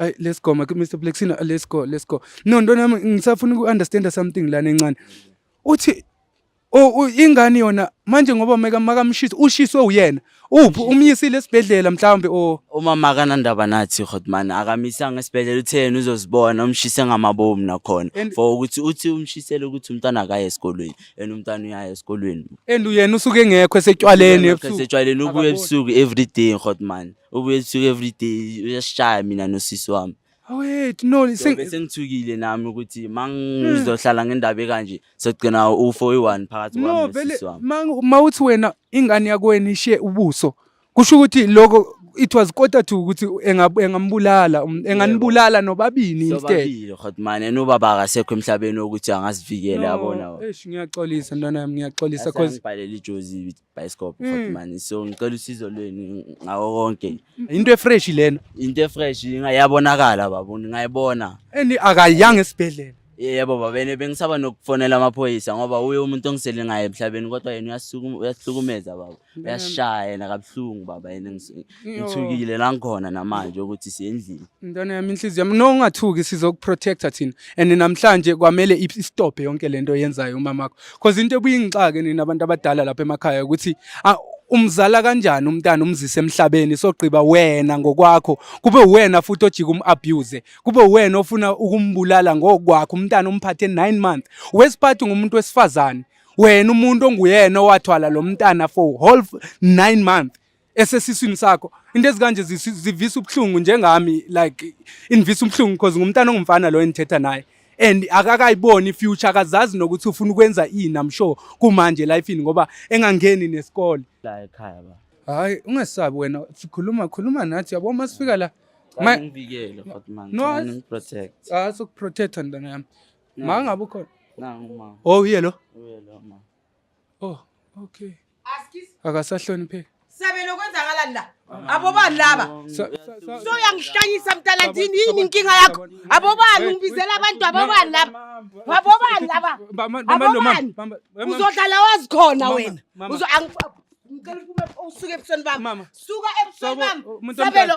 Ay let's go Mike Mr Blexina let's go let's go. No ntwana yami ngisafuna uku understand something lana encane. Uthi oh ingane yona manje ngoba meka makamshisa ushiswe uyena. Uphi umyisile esibhedlela mhlawumbe o umama akanandaba nathi Godman akamisanga esibhedlela uthe yena uzozibona umshise ngamabomu nakhona And- for ukuthi uthi umshisele ukuthi umntwana akaye esikolweni and umntwana uyaye esikolweni and uyena usuke engekho esetshwaleni ebusuku. setshwaleni ubuye Akaboni. ebusuku every day Godman ubuye ethuke everyday uyasishaya mina nosisi wami awethu no seng- bese ngithukile nami ukuthi ma ngizohlala ngendaba ekanje sogcina ufo oyi-one phakathi no kwami vele nosisi wami ma- ma uthi wena ingane yakweni ishiye ubuso kusho ukuthi loko it was quarter to ukuthi enga- engambulala um, enganibulala nobabini instead sobabili hotmane nobaba akasekho emhlabeni wokuthi angazivikele yabona No, eish, ngiyaxolisa ntwana yami ngiyaxolisa cause ngibhalele ijozi bhayisikobho Mm. futhi mani so ngicela usizo lwenu ngawo konke into efresh lena into efresh ingayabonakala baba ngingayibona and akayanga esibhedlela yebo baba ene bengisaba nokufonela amaphoyisa ngoba uye umuntu ongisele ngaye emhlabeni kodwa yena uyasukuma- uyasihlukumeza baba uyasishaya yena kabuhlungu baba yena ngis- ngithukile la ngikhona namanje ukuthi siyendlini ntwana yami inhliziyo yami no ungathuki sizokuprotecta thina and namhlanje kwamele istophe yonke lento oyenzayo umama wakho cause into ebuyingixake nina abantu abadala lapha emakhaya ukuthi umzala kanjani umntana umzise emhlabeni sogqiba wena ngokwakho kube wena futhi ojika umabuse kube wena ofuna ukumbulala ngokwakho umntana umphathe 9 months wesiphathi ngumuntu wesifazane wena umuntu onguyena owathwala lo mntana for whole 9 months esesiswini sakho into ezikanje zivisa ubuhlungu njengami like invisa ubuhlungu because ngumntana ongumfana lo engithetha naye and akakayiboni future akazazi nokuthi ufuna ukwenza ini i'm sure kumanje lifeini ngoba engangeni nesikole la ekhaya ba hayi ungesabi wena sikhuluma khuluma nathi yabo uma sifika la ngivikele futhi manje no ngiprotect ah sokuprotect ndana yami ma ngabe ukhona nangu ma oh uyelo uyelo ma oh okay akasahlonipheki sabelo kwenzakalani la abobani laba so yangihlanyisa mntalandini yini inkinga yakho abobani ngibizela abantu abobani laba abobani laba abobani uzodlala wazi khona wena ngicela usuke ebusweni bami suka ebusweni bami sabelo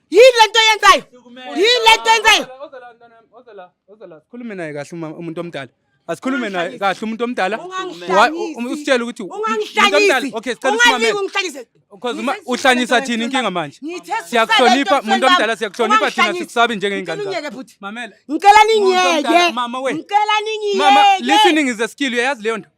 yini lento yenzayo yini lento yenzayo sikhulume naye kahle umuntu omdala asikhulume naye kahle umuntu omdala usitshele ukuthi uhlanyisa thini inkinga manje siyakuhlonipha umuntu omdala siyakuhlonipha thina sikusaba njengeyingane ngicela ningiyeke ngicela ningiyeke listening is a skill uyayazi leyo nto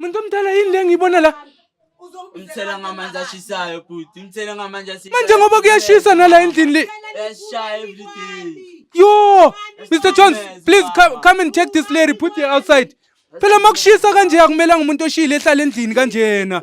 Muntu omdala yini le ngiyibona la? Umthela ngamanzi ashisayo bhuti, umthela ngamanzi ashisayo. Manje ngoba kuyashisa nala endlini le. Yashaya every day. Yo, Mr Jones, please come, come and take this lady, put her outside. Phela makushisa kanje akumelanga umuntu oshile ehlala endlini kanjena.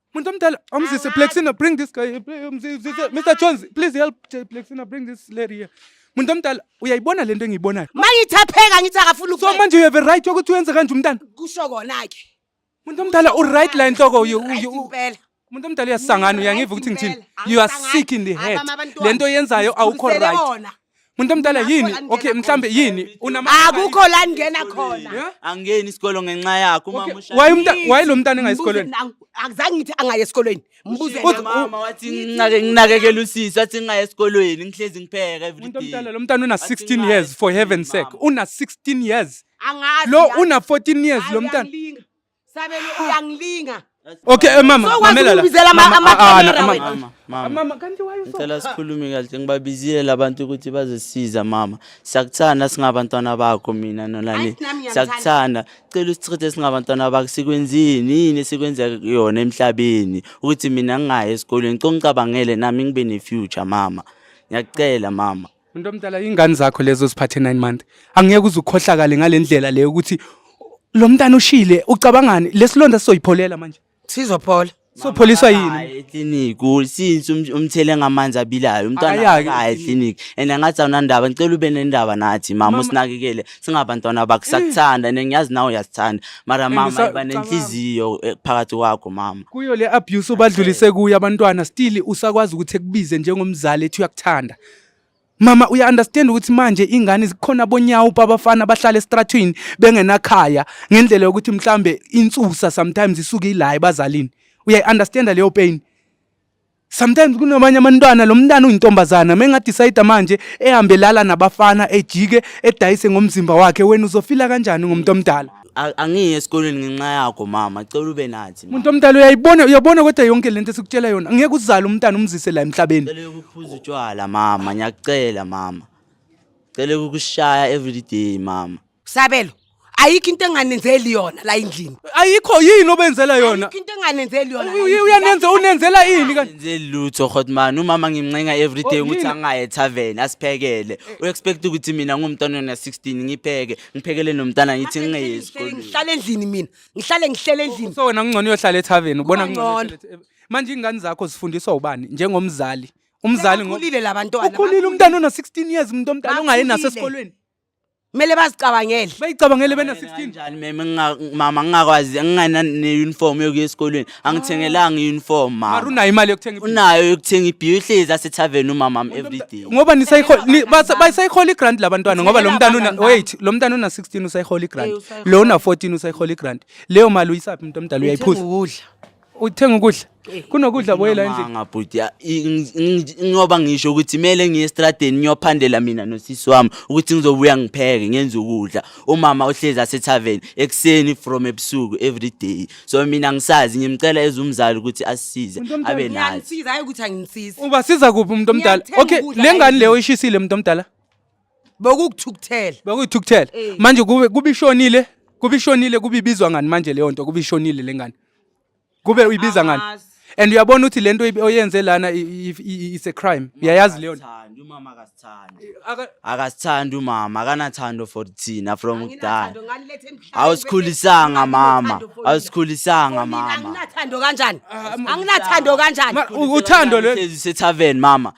Muntu omdala, umzise Plexina bring this guy. Umzise Mr Jones, please help Plexina bring this lady here. Muntu omdala, uyayibona lento engiyibonayo. Mayithapheka ngithi akafuni So manje you have a right yokuthi uyenze kanje umntana. Kusho kona ke. Muntu omdala u right la inhloko you impela. Muntu omdala uyasangana uyangiva ukuthi ngithini. You are sick in the head. Lento yenzayo awukho right. Muntu omdala yini? Okay, mhlambe yini? Unama Akukho la ngena khona. Yeah? angeni isikolo ngenxa yakho uma Okay, musha Waye umta waye lo mntana engayi esikolweni. Mbuze- ang- Akuzange ngithi angaye esikolweni. Mbuze Uthi- mama wathi nginake nginakekela usisi wathi ngingaye esikolweni ngihlezi ngipheka Muntu everyday omdala lo mntana una Wathi 16 ngingayi years for heaven's sake. esikolweni, mama. Una 16 years. angazi. Lo yazi. una 14 years Hayi, lo mntana. uyangilinga. Sabelo uyangilinga. Okay eh, mama, so, mamela la. Ubizela ama ah, ah, camera mama, wena. Mama, mama. Ah, mama kanti why uso? Ngicela sikhulume kahle ngibabizile labantu ukuthi bazosiza mama. Siyakuthanda singabantwana bakho mina nolani. Siyakuthanda. Cela usichithe singabantwana bakho sikwenzini yini sikwenza yona emhlabeni ukuthi mina ngingayi esikolweni. Ngicela ungicabangele nami ngibe ne future mama. Ngiyacela mama. Umuntu omdala ingane zakho lezo ziphathe 9 month. Angeke uze ukhohlakale ngalendlela leyo ukuthi lo mntana ushile ucabangani lesilonda sizoyipholela manje. Sizophola. Sopholiswa yini? Hayi eclinic since um- umthele ngamanzi abilayo umntwana Akayaki akayi eclinic and angathi awunandaba ngicela ube nendaba nathi mama usinakekele singabantwana bakho sakuthanda and ngiyazi nawe uyasithanda mara mama usa- iba nenhliziyo eh, phakathi kwakho mama Kuyo le abuse ubadlulise kuyo abantwana still usakwazi ukuthi ekubize njengomzali ethi uyakuthanda. Mama uya understand ukuthi manje ingane zikhona bonyawo babafana bahlala estratweni bengenakhaya ngendlela yokuthi mhlambe insusa sometimes isuke ilayi bazalini uya understand leyo pain sometimes kunabanye amantwana lo mntana uyintombazana mengadecide manje ehambe lala nabafana ejike edayise ngomzimba wakhe wena uzofila kanjani ngomuntu omdala A- angiyi esikoleni ngenxa yakho mama cela ube nathi mama. muntu omdala uyayibona uyabona kodwa yonke lento esikutshela yona ngeke uzale umntana umzise la emhlabeni cela ukuphuza utshwala mama ngiyakucela mama cela ukukushaya everyday mama sabelo ayikho into enganenzeli yona la endlini ayikho yini obenzela yona ayikho into enganenzeli yona la Uy- endlini. uyanenza unenzela ini kanti ngenzeli lutho hotman umama ngimncenga everyday Oh, ukuthi yini? angaye ethaveni asiphekele u-expect ukuthi mina ngumntwanona 16 ngipheke ngiphekele nomntana ngithi ngingeye esikoleni ngihlale endlini mina ngihlale ngihlele endlini so wena kungcono uyohlala ethaveni ubona Kuba kungcono ngcono. uyohlala ethaveni. manje ingane zakho zifundiswa ubani njengomzali umzali ngo- ukhulile labantwana ukhulile umntana una 16 years umuntu omdala ongaye Bakhulile. nasesikolweni kumele bazicabangele bayicabangele bena 16 njani meme nginga- mama ngingakwazi nginganane-uniform yokuya esikolweni angithengelanga i-uniform mara mama unayo imali yokuthenga ibhiya. unayo yokuthenga ibhiya uhlezi asethaveni umama wami everyday ngoba nisayihola ni- basa- basayihola igrant labantwana ngoba lo mntana una Ngithengela wait lo mntana una 16 usayihola Eh, igrant usayihola. lo una 14 usayihola igrant leyo mali uyisaphi umuntu omdala uyayiphuza ukudla uthenga ukudla Eh, kunokudla boyela endlini Ngamanga, bhuti ya- i- ngi- ngi- ngiyoba ngisho ukuthi kumele ngiye estradeni ngiyophandela mina nosisi wami ukuthi ngizobuya ngipheke ngenze ukudla umama uhlezi asethaveni ekuseni from ebusuku everyday so mina ngisazi ngimcela as umzali ukuthi asisize Umuntu omdala. abe nazi Ngiyangisiza hayi ukuthi angisizi. ubasiza kuphi umuntu omdala Ngiyakuthenga okay ukudla, le ngane hhayi leyo ishisile umuntu omdala Bokukuthukuthela. bakuyithukuthela Eh. manje kube kube ishonile kube ishonile kube ibizwa ngani manje leyo nto kube ishonile le ngane kube uyibiza ngani Angazi. and uyabona ukuthi lento ibe- oyenze lana i- i- i- it's a crime uyayazi leyo nto? Akasithandi, umama akasithandi Aka- akasithandi umama akanathando for thina from kudala Anginathando, ngalilethe emhlabeni awusikhulisanga bese- mama Anginathando for nina. awusikhulisanga For nina, mama Anginathando kanjani? Anginathando kanjani? Ma- u- uthando le Hlezi sethaven mama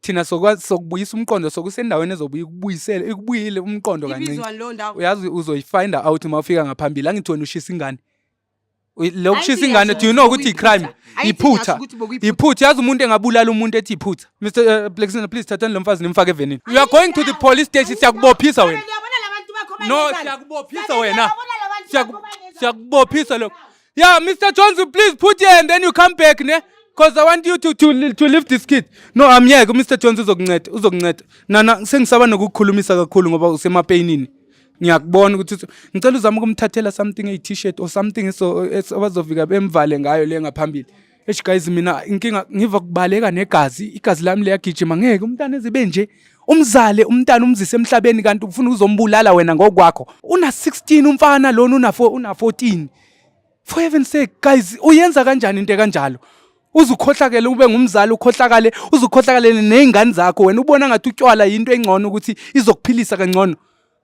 thina sokwazi sokubuyisa umqondo sokusendaweni ezobuya ikubuyisele ikubuyile umqondo kancinci ibizwa leyo ndawo uyazi uzoyifinda out uma ufika ngaphambili angithi wena ushisa ingane Uy- lo kushisa Ayithi ingane do you know ukuthi ngiyazi i-crime ukuthi bekuyiphutha. Ayithi iphutha ngiyazi ukuthi bekuyiphutha. iphutha yazi umuntu engabulala umuntu ethi iphutha mr uh, Blakiston, please thathani lo mfazi nimfake evenini you are going to the police station siyakubophisa wena Ngiyabona labantu bakho no banenkani. siyakubophisa Ngiyabona wena labantu bakho Siyaku- banenkani. siyakubophisa lokho Yeah, Mr. Jones, please put here and then you come back, ne? Because I want you to, to, to leave this kid. No, I'm here. Mr. Jones uzokunceda, uzokunceda. Nana sengisaba nokukhulumisa kakhulu ngoba usemapeyinini. Ngiyakubona ukuthi ngicela uzama ukumthathela something a t-shirt or something so abazovika bemvale ngayo le ngaphambili. Eish guys mina inkinga ngiva kubaleka negazi, igazi lami liyagijima ngeke umntana ezibe nje. Umzale umntana umzise emhlabeni kanti ufuna uzombulala wena ngokwakho. Una 16 umfana lona una 4 una 14. For heaven's sake guys uyenza kanjani into kanjalo? uzukhohlakele ube ngumzali ukhohlakale uzukhohlakale nezingane zakho wena ubona ngathi utywala yinto engcono ukuthi izokuphilisa kangcono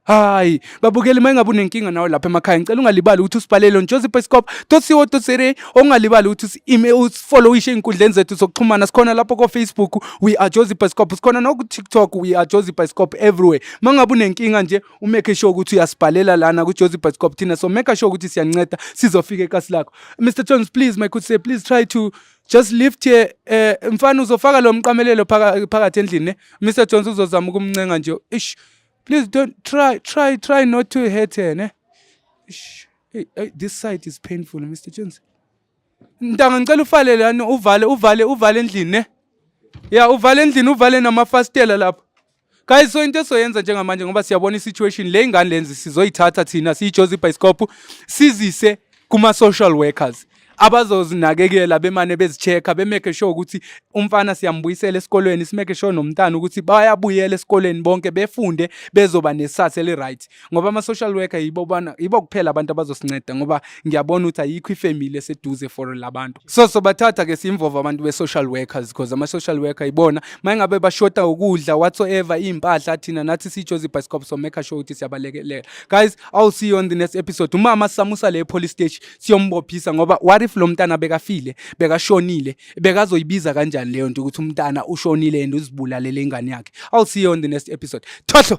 hayi babukeli uma ingabe unenkinga nawe lapha emakhaya ngicela ungalibali ukuthi usibhalele njozi pescop tosiwo tosere ongalibali ukuthi usifollowishe ey'nkundleni zethu zokuxhumana sikhona lapho kofacebook we are jozi pescop sikhona nokutiktok we are jozi pescop everywhere uma ngabe unenkinga nje umeke sure ukuthi uyasibhalela lana kujozi pescop thina so meka sure ukuthi siyanceda sizofika ekasi lakho mr jones please my good say please try to just lift here eh mfana uzofaka lo mqamelelo phakathi endlini ne mr jones uzozama ukumncenga nje ish Please don't try, try, try not to hurt her, ne? Shh. Hey, hey, this side is painful, Mr. Jones. Ntanga ngicela ufale lana uvale uvale uvale endlini ne? Yeah, uvale endlini uvale namafastela lapha. Guys, so into esoyenza njengamanje ngoba siyabona i-situation le ingane lenzi sizoyithatha thina siyijozi ibhayisikophu sizise kuma-social workers abazozinakekela bemane bezichecka bemeke sure ukuthi umfana siyambuyisela esikolweni simeke sure nomntana ukuthi bayabuyela esikolweni bonke befunde bezoba nesathe eli-right ngoba ama-social worker yibo bana yibo kuphela abantu abazosinceda ngoba ngiyabona ukuthi ayikho ifamily eseduze for labantu so sobathatha ke simvova abantu be-social workers because ama-social worker yibona mayengabe bashota ukudla whatsoever iy'mpahla thina nathi sijozi ibhasikop so make sure ukuthi siyabalekelela guys i'll see you on the next episode umama samusa le police station siyombophisa ngoba what if lo mntana bekafile bekashonile bekazoyibiza kanjani leyo nto ukuthi umntana ushonile and uzibulalele ingane yakhe i'll see you on the next episode thohlo